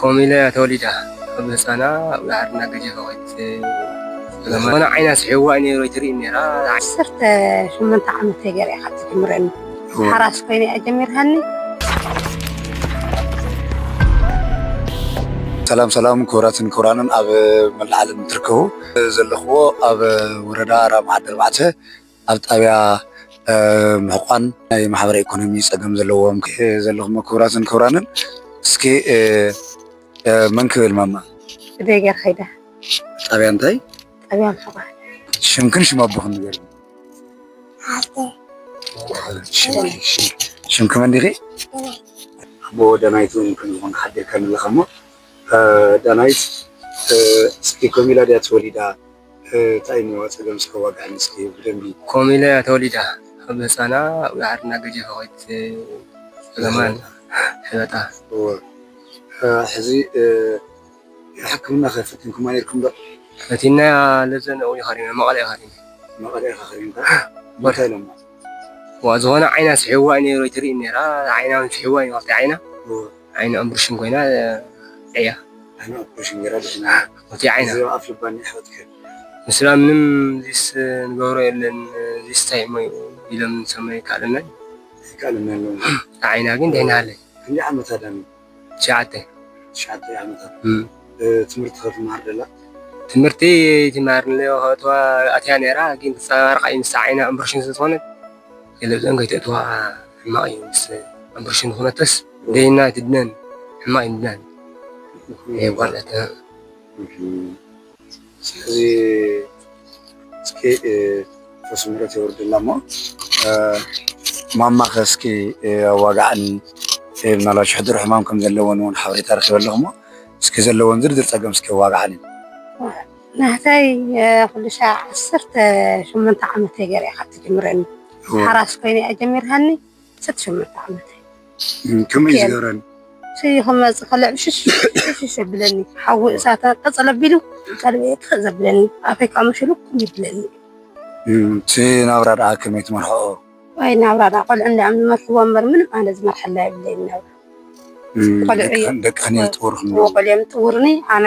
ከምኡ ኢለ እያ ተወሊዳ ካብ ህፃና ኣብ ዳሓርና ገጀፈ ኮይት ዝኾነ ዓይና ስሒዋ እዩ ነይሩ ኣይትርኢ ነይራ ዓሰርተ ሸሞንተ ዓመተይ ገይረ እያ ካብ ትጅምረኒ ሓራስ ኮይነ እያ ጀሚርሃኒ ሰላም ሰላም ክቡራትን ክቡራንን ኣብ መላእ ዓለም እትርከቡ ዘለኽዎ ኣብ ወረዳ ራማ ዓዲ ኣርባዕተ ኣብ ጣብያ ምሕቋን ናይ ማሕበረ ኢኮኖሚ ፀገም ዘለዎም ዘለኹሞ ክቡራትን ክቡራንን እስኪ መን ክብል ማማ እደይ ገርካ ይዳ ጣብያ እንታይ ጣብያ ምሕቋን ሽምክን ሽም ኣቦኽን ንገሪ ሽምክ መን ዲኺ ኣቦ ዳናይት እውን ከምዝኾን ሓቢርካኒ ኣለኻ እሞ ዳናይት እስኪ ኮም ኢላ ድያ ተወሊዳ ታይ እሞ ፀገም እስከ ዋግዐኒ እስከ ብደንቢ። ከምኡ ኢለ እያ ተወሊደ ኣብ ህፃና ኣብጋሕሪ እናገጀፈ ከይት ፀገማን ሕበጣ። እወ ሕዚ ሕክምና ከ ፈቲንኩማ ነይርኩም ዶ። ፈቲናያ ለዘን ኣብኡ እዩ ከሪመ መቀለ እዩ ከሪመ። መቀለ ኢካ ከሪምካ እንታይ ኢሎማ። እዋ ዝኮነ ዓይና ስሒብዋ እዩ ነይሩ ኣይትርእይን ነይራ ዓይና ውን ስሒብዋ እዩ ክልቲኣ ዓይና። ዓይኑ ኣምብርሽን ኮይና እያ። ዓይኑ ኣፕረሽን ጌራ ድሒና ፎቲ ዓይና። እዚ ኣፍ ልባ ን የሕዋትካ እዩ። ንስድራ ምንም ዚስ ንገብሮ የለን ዚስ ታይ እሞ ዩ ኢሎም ንሰምዑ ይከኣለናዩ። ኣይከኣለናን ዩ እታ ዓይና ግን ድሒና ሃለይ። ክንደይ ዓመታ ዳኒ። ትሽዓተ። ትሽዓተ ዓመታ ትምህርቲ ከ ትማሃር ዶ ኣላ። ትምህርቲ ትማሃር ንሌሆ ከእትዋ ኣትያ ኔራ ግን ክጸባርቅ ኣዩ ምስታ ዓይና ኣምብርሽን ስለ ዝኮነት። ቴለብዘን ከይተእትዋ ሕማቅ እዩ ምስ ኣምብርሽን ዝኮነተስ ደይና ኣይትድነን ሕማቅ እዩ ምድናን ናይ ጓል እህትና ስለዚ እስኪ ርሑስ ምረት የውርደላ እሞ ማማ ከ እስኪ ኣዋጋዕን ሰብ ምናልባት ሽሕድሮ ሕማም ከም ዘለወን ውን ሓበሬታ ረኪበ ኣለኩ እሞ እስኪ ዘለወን ዝርዝር ጸገም እስኪ ኣዋጋዕን። ናህተይ ኩሉሻዕ ዓሰርተ ሸሞንተ ዓመተይ ገይረ'ያ ካብ ትጅምረኒ ሓራስ ኮይነ'ያ ጀሚራኒ ዓሰርተ ሸሞንተ ዓመተይ ከመይ እዩ ዝገብረኒ ሽይ ክመጽእ ከሎ ዕሽሽ ዘብለኒ ሓዊ እሳት ቀጸል ኣቢሉ ቀልበይ ጥፍእ ዘብለኒ ኣፈይ ከዓ መሽሉክ ይብለኒ እቲ ናብራ ደኣ ከመይ ትመርሕኦ ወይ ናብራ ደኣ ቆልዑ እንዲኦም ዝመርሕዎ እምበር ምንም ኣነ ዝመርሐላ የብለይን ናብራ ቆልዑ እዮም ጥውርኒ ኣነ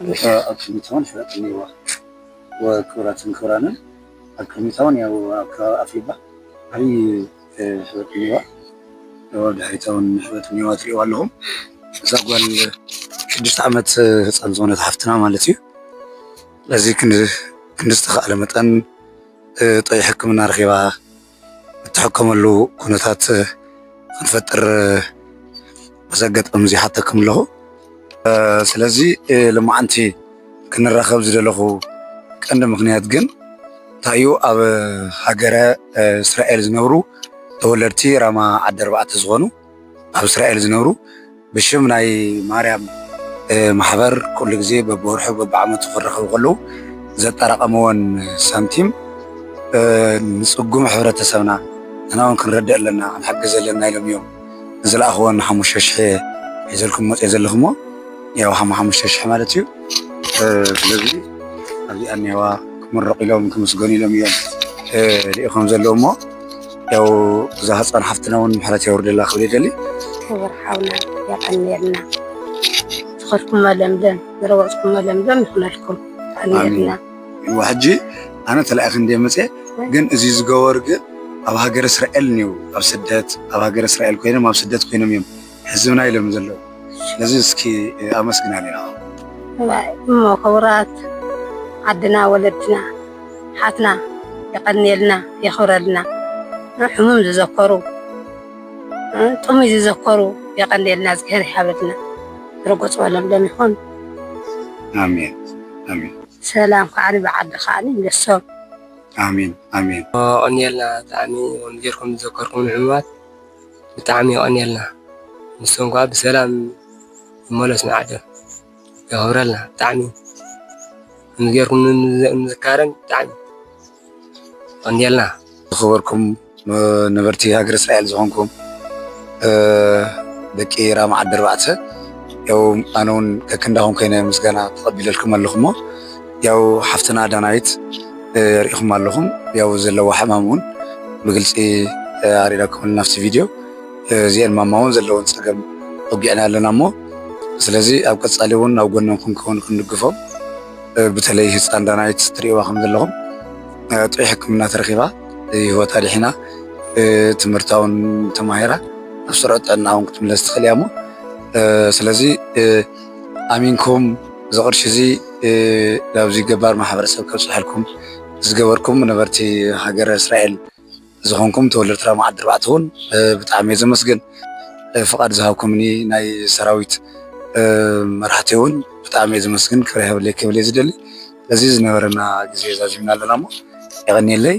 ኣበሻ ኣብ ቅድሚታውን ሕረትን ኔርዋ እወ ክብራትን ክብራንን ኣብ ቅድሚታውን ያው ኣብ ከባቢ ኣፍልባ ዓብይ ሕበጥ ኔርዋ እወ ኣብ ድሕሪታውን ሕበጥ ኔርዋ ትሪእዋ ኣለኹም እዛ ጓል ሽዱሽተ ዓመት ህፃን ዝኾነት ሓፍትና ማለት እዩ ስለዚ ክንዲ ዝተኻእለ መጠን ጥዑይ ሕክምና ረኺባ እትሕከመሉ ኩነታት ክንፈጥር በዚ ኣጋጣሚ እዚ ይሓተኩም ኣለኹ። ስለዚ ሎማዓንቲ ክንራኸብ ዝደለኹ ቀንዲ ምኽንያት ግን እንታይ እዩ ኣብ ሃገረ እስራኤል ዝነብሩ ተወለድቲ ራማ ዓዲ ኣርባዕተ ዝኾኑ ኣብ እስራኤል ዝነብሩ ብሽም ናይ ማርያም ማሕበር ኩሉ ግዜ በብወርሑ በብዓመቱ ክራኸቡ ከለዉ ዘጠራቐምዎን ሳንቲም ንፅጉም ሕብረተሰብና ንሕና እውን ክንረድእ ኣለና ክንሓግዝ ኣለና ኢሎም እዮም ዝለኣኽዎን ሓሙሽተ ሽሕ ሒዘልኩም መፅኦ ዘለኹሞ ያው ሓሙሽተ ሽሕ ማለት እዩ ስለዚ ኣብዚኣ እኒአዋ ክምረቑ ኢሎም ክምስገኑ ኢሎም እዮም ልኢኾም ዘለዉ እሞ ያው እዛ ህፃን ሓፍትና እውን ምሕረት የውርደላ ክብል ይደሊ ክቡር ሓውና የቀንየልና ዝኸድኩሞ ለምለም ዝረወፅኩሞ ለምለም ይኹነልኩም የቀንየልና ይዋ ሕጂ ኣነ ተላኢኺ እንደ መፀ ግን እዚ ዝገበሩ ግን ኣብ ሃገር እስራኤል እኒው ኣብ ስደት ኣብ ሃገር እስራኤል ኮይኖም ኣብ ስደት ኮይኖም እዮም ህዝብና ኢሎም ዘለዉ ነዚ እስኪ ኣመስግና ኔራ እሞ ክቡራት ዓድና ወለድና ሓትና የቀንየልና የክብረልና ሕሙም ዝዘከሩ ጥሙይ ዝዘከሩ የቀንየልና እዝግሄር ይሃበልና ርጉጽ በሎም ሎም ይኹን ኣሜን ኣሜን ሰላም ከዓኒ ብዓዲ ከዓኒ ይምለሶም ኣሜን ኣሜን የቀንየልና ብጣዕሚ ከምዚ ጌርኩም ዝዘከርኩም ንሕሙማት ብጣዕሚ የቀንየልና ንሱ እንኳን ብሰላም ይመለስ ንዓዱ የክብረልና ብጣዕሚ ከምዚ ገይርኩም ምዝካረይ ብጣዕሚ የቀንየልና። ዝኸበርኩም ነበርቲ ሃገረ እስራኤል ዝኾንኩም ደቂ ራማ ዓዲ ኣርባዕተ ያው ኣነ ውን ከክንዳኹም ኮይነ ምስጋና ተቀቢለልኩም ኣለኹ እሞ ያው ሓፍትና ዳናይት ሪኢኹማ ኣለኹም ያው ዘለዋ ሕማም እውን ብግልፂ ኣሪዳኩምልና ኣብቲ ቪድዮ እዚኤን ማማ እውን ዘለወን ፀገም ወጊዕና ኣለና እሞ ስለዚ ኣብ ቀፃሊ እውን ኣብ ጎኖም ክንከውን ክንድግፎም ብተለይ ህፃን ዳናይት ትሪእዋ ከም ዘለኹም ጥዑይ ሕክምና ተረኪባ ህይወታ ድሒና ትምህርታ እውን ተማሂራ ኣብ ስሩዕ ጥዕና እውን ክትምለስ ትኽእል እያ እሞ ስለዚ ኣሚንኩም እዚ ቅርሺ እዚ ናብዚ ገባር ማሕበረሰብ ከብፀሐልኩም ዝገበርኩም ነበርቲ ሃገረ እስራኤል ዝኾንኩም ተወለድቲ ራማ ዓዲ ኣርባዕተ እውን ብጣዕሚ እየ ዘመስግን። ፍቓድ ዝሃብኩምኒ ናይ ሰራዊት መራሕቲ እውን ብጣዕሚ እየ ዘመስግን ክብሪ ይሃበለይ ክብል እየ ዝደሊ። ስለዚ ዝነበረና ግዜ ዛዚምና ኣለና እሞ የቐንየለይ።